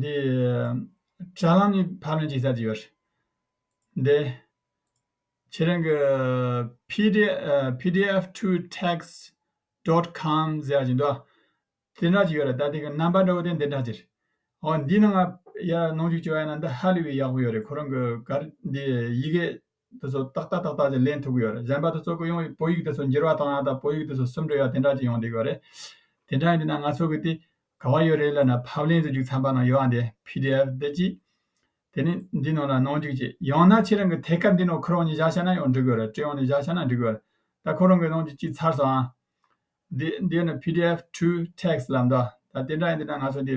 འདི། དྲ་ལམ་ནས་ཕབ་ལེན་བྱེད་ས་དེ་ཡོད་རེད། འདི། ཁྱེད་རང་གི། PDF to text dot com ཟེར་བ་ཞིག་འདུག་དེ་འདྲ་ཞིག་ཡོད་རེད་ད་དེ་གི་རྣམ་པ་འདྲ་བོ་དེ་འདི་འདྲ་ཞིག་རེད། འོ་འདི་ནང་ང་ཡར་ནང་བཞུགས་བྱས་པ་ཡིན་ན་འདི་ཧ་ལས་པའི་ཡག་པོ་ཡོད་རེད་ཁོ་རང་གི་གར་འདི་ཡི་གེ། འདི་ཚོ་ཏག་ཏག་ཏག་ཏག་ཅིག་ལེན་ཐུབ་ཀྱི་ཡོད་རེད་གཞན་པ་དེ་ཚོ་ཀུན་ཡོང་བའི་བོད་ཡིག་དེ་ཚོ་འགྱུར་བ་གཏོང་ཡག་དང་བོད་ཡིག་དེ་ཚོ་སུམ་འགྲིལ་ཡག་དེ་འདྲ་ཅིག་ཡོང་དགོས་ཀྱི་ཡོད་རེད་དེ་འདྲ་ཡིན་དུས་ན་ང་ཚོ་གིས་དེ་ག་བ་ཡོད་རེད་ལབ་ན་ཕབ་ལེན་དུ་རྒྱུགས་ཚངས་པ་ནང་ཡོད་ཨ་འདི pdf འདི་གཅིག་དེ་ནས་འདི་ནང་ལ་གནང་རྒྱུགས་གཅིག་ཡང་ན་ཁྱེད་རང་གིས་ཐད་ཀར་འདི་ནང་ཁོ་རང་གཉིས་བཞག་ཤ་ན་ཡང་འགྲིག་གི་རེད་ཀྲི་ཡོང་ནས་བཞག་ཤ་ན་འགྲིག་གི་ཡོད་རེད་ད་ཁོ་རང་གིས་གནང་རྒྱུ་གཅིག་ཚར་སོང་ཨ་འདི་འདི་ཡོད་ན pdf true text ལབ་འདུག་ད་དེ་འདྲ་ཡིན་དུས་ན་ང་ཚོ་འདི་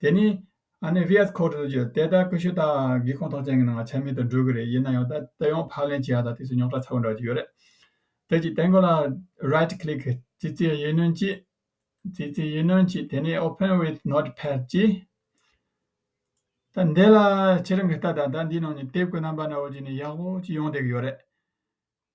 དེ་ནི། ཨ་ནེ་བྷིའད་ཁོ་ཀྲུ་ཀྱིས་དེ་ལྟར་ཀུ་ཤུ་ཏཱ་གི་ཁོངས་གཏོགས་ཅན་གྱི་ནང་ཆ་མེད་དུ་འགྲོ་གི་རེད་ཡིན་ན་ཡང་ད་ལྟ་ཡང་ཕག་ལེན་བྱེད་ཡག་དང་དུས་སུ་རྙོག་དྲ་ཚ་བོ་འདྲ་གཅིག་ཡོད་རེད། དེ་གཅིག་དེ་འགོ་ལ Right Click ཙི་ཙི་ཡིད་སྣོན་གྱིས་ཙི་ཙི་ཡིད་སྣོན་གྱིས་དེ་ནས Open with Notepad གྱིས། ད་འདི་ལ་ཁྱེད་རང་གིས་ལྟ་དང་ད་འདིའི་ནང་ནས་དེབ་ཀྱི་རྣམ་པ་ནོར་བ་གཅིག་ནས་ཡག་པོ་གཅིག་ཡོང་བསྡད་ཀྱི་ཡོད་རེད།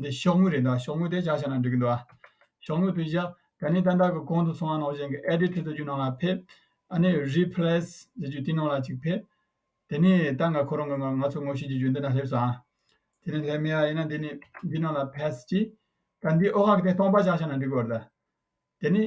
འདི་ཤོག་ངོས་རེད་འདུག་ཤོག་ངོས་དེ་བཞག་ཤག་ན་འགྲིག་གི་འདུག་ཤོག་ངོས་བུད་བཞག་དེ་ནས་ཏན་ཏན་གྱི་གོང་དུ་སོང་བ་ནང་བཞིན་གྱི Edit བཟོ་རྒྱུ་ནང་ལ་ཕེབས་ཨ་ནི Replace བཟོ་རྒྱུ་དེ་ནང་ལ་ཅིག་ཕེབས་དེ་ནས་ཏན་ཏན་ཁོ་རང་གི་ང་ཚོ་ངོ་ཤེས་ཀྱི་རྒྱུ་འདི་ན་སླེབས་སོང་དེ་ནས་སླེབས་མེད་ཡ་ཡིན་ན་འདི་ནས་འདི་ནང་ལ Paste གྱིས་ད་འདིའི་ཨོ་ཁ་གི་དེ་སྟོང་པ་བཞག་ཤག་ན་འགྲིག་གི་འོ་རེད་ད་དེ་ནས།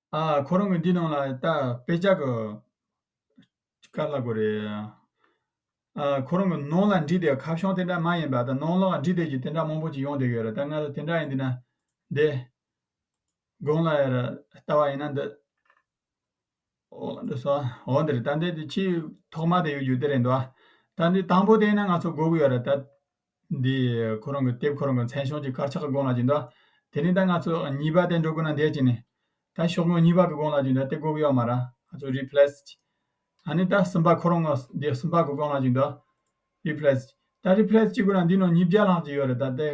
ཁོ་རང་གི་འདི་ནང་ལ་ད་དཔེ་ཆ་གི་དཀར་ལྷ་དགོས་རེད། ཁོ་རང་གི་ནང་ལ་འབྲི་དེ་ཁ་བྱང་དེ་འདྲ་མ་ཡིན་པ་ད་ནང་ལ་འབྲི་དེ་ཀྱི་དེ་འདྲ་མང་པོ་ཅིག་ཡོང་དེ་ཡོད་རེད་ད་ང་ལ་དེ་འདྲ་ཡིན་འདི་ན་འདི། དགོང་ལ་ཡར་ལྟ་བ་ཡིན་ན་འདི། འོ་འདི་ས་འོ་འདི་རེད་ད་འདི་ཆེས་ཐོག་མ་དེ་ཡོད་རྒྱུ་དེ་རེད་འདུག་ད་འདི་དང་པོ་དེ་ཡིན་ན་ང་ཚོ་དགོས་ཀྱི་ཡོད་རེད་ད། འདི་ཁོ་རང་གི་དེབ་ཁོ་རང་གི་མཚན་ཤོག་གྱི་དཀར་ཆག་གི་དགོངས་ལ་གྱུར་འདུག་དེ་ནས་ད་ང་ཚོ་གཉིས་པ་དེ་འགྲོ་དགོས་ན་འདས་ཀྱི་ནས། ད་ཤོག་ངོས་གཉིས་པ་གི་དགོངས་ལ་གྱུར་འདུག་དེབ་གོག་ཡོད་མ་རང་ང་ཚོ Replaced། ད་ནི་ད་གསུམ་པ་ཁོ་རང་ངོས་འདི་གསུམ་པ་གི་དགོངས་ལ་གྱུར་འདུག Replaced། ད Replaced བྱེད་དགོས་ན་འདི་ནང་ཉིས་བརྒྱ་ལྷག་ཅིག་ཡོད་རེད་ད་དེ།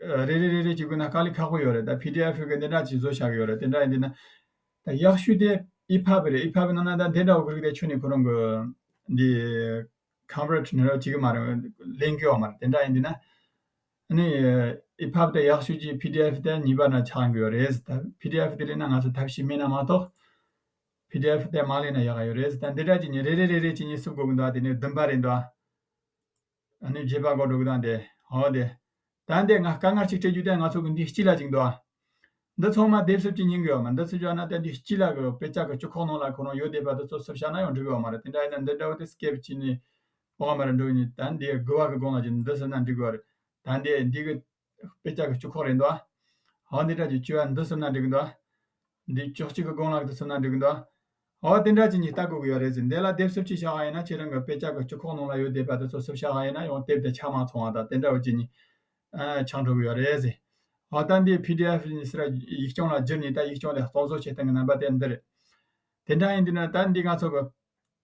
རེ་རེ་རེ་རེ་བྱེད་དགོས་ན་དཀའ་ལས་ཁག་པོ་ཡོད་རེད་ད PDF ཕུལ་གི་དེ་འདྲ་ཅིག་བཟོ་བྱ་གི་ཡོད་རེད་དེ་འདྲ་ཡིན་དུས་ན། ད་ཡག་ཤོས་དེ EPUB རེད EPUB ནང་ན་ད་དེ་འདྲ་བོ་ཁུར་གི་དེ་ཆུ་ནས་ཁོ་རང་གི་འདི། Coverage ནི་རོ་གཅིག་གི་མ་རེད། གླེང་རྒྱུའོ་མ་རེད། དེ་འདྲ་ཡིན་དུས་ན། ནི། ཨི་ཕབ་དེ་ཡག་ཤོས་ཀྱི PDF དེ་གཉིས་པ་ན་ཆགས་འགོས་རེད། PDF དེ་ལས་ན་ང་ཚོ་ཐབས་ཤེས་མེད་ན་མ་གཏོགས། PDF དེ་མ་གླེང་ན་ཡག་ཡོད་རེད། ད་འདི་འདྲ་གྱི་ནི་རེ་རེ་རེ་རེ་གྱི་ནི་བསུབ་དགོས་གི་འདུག་ཨ་དེ་ནི་བདུན་པ་རེད་འདུག་ཨ། ནི་བརྒྱད་པ་གོ་འགྲོ་གི་འདུག་ཨ་དེ། ཧོ་དེ། ད་འདས་ང་དཀའ་ངལ་ཅིག་སྤྲད་རྒྱུ་དེ་ང་ཚོ་གི་འདི་སྐྱིད་ལ་ཅིག་འདུག་འདི་ཚང་མ་དེབ་སོབ་ཀྱི་སྙིང་གི་ཡོད་མ་འདི་ཚོ་བཞག་ན་དེ་འདི་སྐྱིད་ལ་གི་པེ་ཅག་གི་སྤྱི་ཁོག་ནང་ལ་ཁོ་རང་ཡོད་བསྡད་པ་འདི་ཚོ་སོབ་བཞག་ན་ཡང་འགྲིག་གི་ཡོད་མ་རེད་དེ་འདྲ་ཡིན་ན་འདི་འདྲ་བོ་དེ་སྐེབས་བྱས་ནས་བོག་མ་རེ་འགྲོ་ནས་ད་འདས་དགུ་བ་གི་སྒང་ལ་ཅིག་འདི་ཟིན་ན་འགྲིག་གི་ཡོད་རེད་ད་འདས་འདི་གི་པེ་ཅག་གི་སྤྱི་ཁོག་རེད་འདུག་ཧ་འདི་འདྲ་ཅིག་བྱས་ན་འདི་ཟིན་ན་འགྲིག་གི་འདུག་འདི་ཅོག་གཅིག་གི་སྒང་ལ་འདི་ཟིན་ན་འགྲིག་གི་འདུག་ཨོ་དེ་འདྲ་ཅི་ཉིད་ལྟ་དགོས་ཀྱི་ཡོད་རེད་ཟེར་འདས་ལ་དེབ་སུབ་ཅིག་ཤར་ག་ཡིན་ན་ཁྱེད་རང་གི་དཔེ་ཆ་གི་སྤྱི་ཁོག་ནང་ལ་ཡོད་བསྡད་པ་དེ་ཚོ་སུབ་ཤར་ག་ཡིན་ན་ཡང་དེབ་དེ་ཆ་མ་ཚང་བ་དང་དེ་འདྲ་བོ་ཅི་ཉིད་ཆང་འགྲོ་གི་ཡོད་རེད་ཟེར། ཨོ་ད་འདིའི་བྷི་དི་ཨེཕ་ཉིད་སི་ར་ཡིག་རྐྱང་ལ་བསྒྱུར་ནས་ད་ཡིག་རྐྱང་དེ་གཙང་བཟོ་བྱེད་སྟངས་ཀྱི་རྣམ་པ་དེ་འདི་རེད། དེ་འདྲ་ཡིན་དུས་ན་ད་འདི་ང་ཚོ་གི་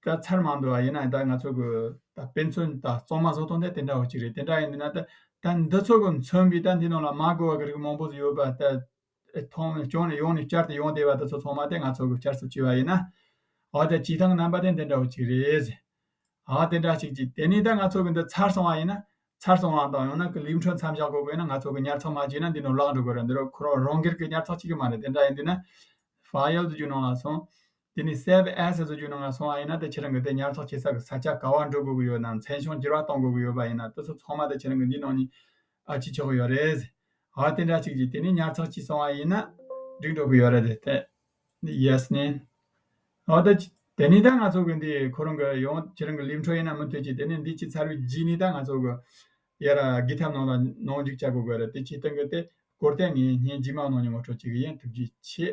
ད་ཚར་མ་འདུག་ཨ་ཡིན་ན་ད་ང་ཚོ་གི་ད་དཔེ་མཚོན་ད་གཙང་མ་བཟོ་སྟངས་དེ་དེ་འདྲ་བོ་ཅིག་རེད་དེ་འདྲ་ཡིན་དུས་ན་ད་འདི་ཚོ་གི་མཚོན་པའི་ད་འདི་ནང་ལ་མ་གོ་བ་གི་རིགས་མང་པོ་ཡོད་པ་ད། མཐོང་བས་སྐྱོང་ནས་ཡོངས་ནས་བསྐྱར་དུ་ཡོངས་བཟླས་པ་དེ་ཚོ་ཚང་མ་དེ་ང་ཚོ་གི་བསྐྱར་གསོ་བྱས་པ་ཡིན། འོ་དེ་བྱེད་སྟངས་རྣམ་པ་དེ་འདི་འདྲ་བོ་ཅིག་རེད། འོ་དེ་འདྲ་ཞིག་ཅིག་དེ་ནས་ད་ང་ཚོ་གི་འདི་ཚར་སོང་བ་ཡིན། ཚར་སོང་བ་དང་ཡང་ན་ཀི་ལིའུ་འཕྲོ་མཚམས་བཞག་དགོས་དགོས་ན་ང་ཚོ་གི་ཉར་ཚགས་མ་བྱས་ན་འདི་ནས་བརླག་འགྲོ་དགོས་ར་འདི་རུ་ཁོ་རང་རང་སྒེར་གི་ཉར་ཚགས་ཅིག་གི་མ་རེད་དེ་འདྲ་ཡིན་དུས་ན། ཕ་ཡུལ་དུ་རྒྱུ་ནང་ལ་སོང། དེ་ནི་སེ་བྷི་ཨན་སེ་བཟོ་རྒྱུ་ནང་ང་སོང་བ་ཡིན་ན་ད་ཁྱེད་རང་གི་དེ་ཉར་ཚགས་བྱེད་ས་གི་ས་ཆ་ག་བར་འགྲོ་དགོས་ཀྱི་ཡོད་ནམ་མཚན་གཞུང་བསྒྱུར་བ་གཏོང་དགོས་ཀྱི་ཡོད་པ་ཡིན་ན་ད་གཟོད་ཚང་མ་ད་ཁྱེད་རང་གི་འདིའི་ནང་ཉིད་ཨ་ཅི་ཆོག་གི་ཡོད་རེད། ཨ་དེ་འདྲ་ཅིག་ཅིག་དེ་ནི་ཉར་ཚགས་བྱས་སོང་བ་ཡིན་ན་འགྲིག་འགྲོ་གི་ཡོད་རེད་དེ་ཨ་ནི་ཡེས་ནི། ཨོ་ད་དེ་ནི་ད་ང་ཚོ་གི་འདི་ཁོ་རང་གི་ཡང་ཁྱེད་རང་གི་ལིབ་འཕྲོ་ཡིན་ན་མི་འཐོལ་ཅིག་དེ་ནི་འདི་ཕྱི་ཚར་བའི་རྗེས་ནི་ད་ང་ཚོ་གི་ཡེ་ར་སྒི་ཐབ་ནང་ལ་ནང་འཇུག་བྱ་དགོས་ཀྱི་ཡོད་རེད་དེ་ཁྱེད་རྟེན་གི་དེ་སྐོར་དེ་ངས་ངའི་སྒྱིད་མའི་ནང་ཉིད་ངོ་སྤྲོད་བྱེད་ཀྱི་ཡིན་ཐུགས་རྗེ་ཆེ།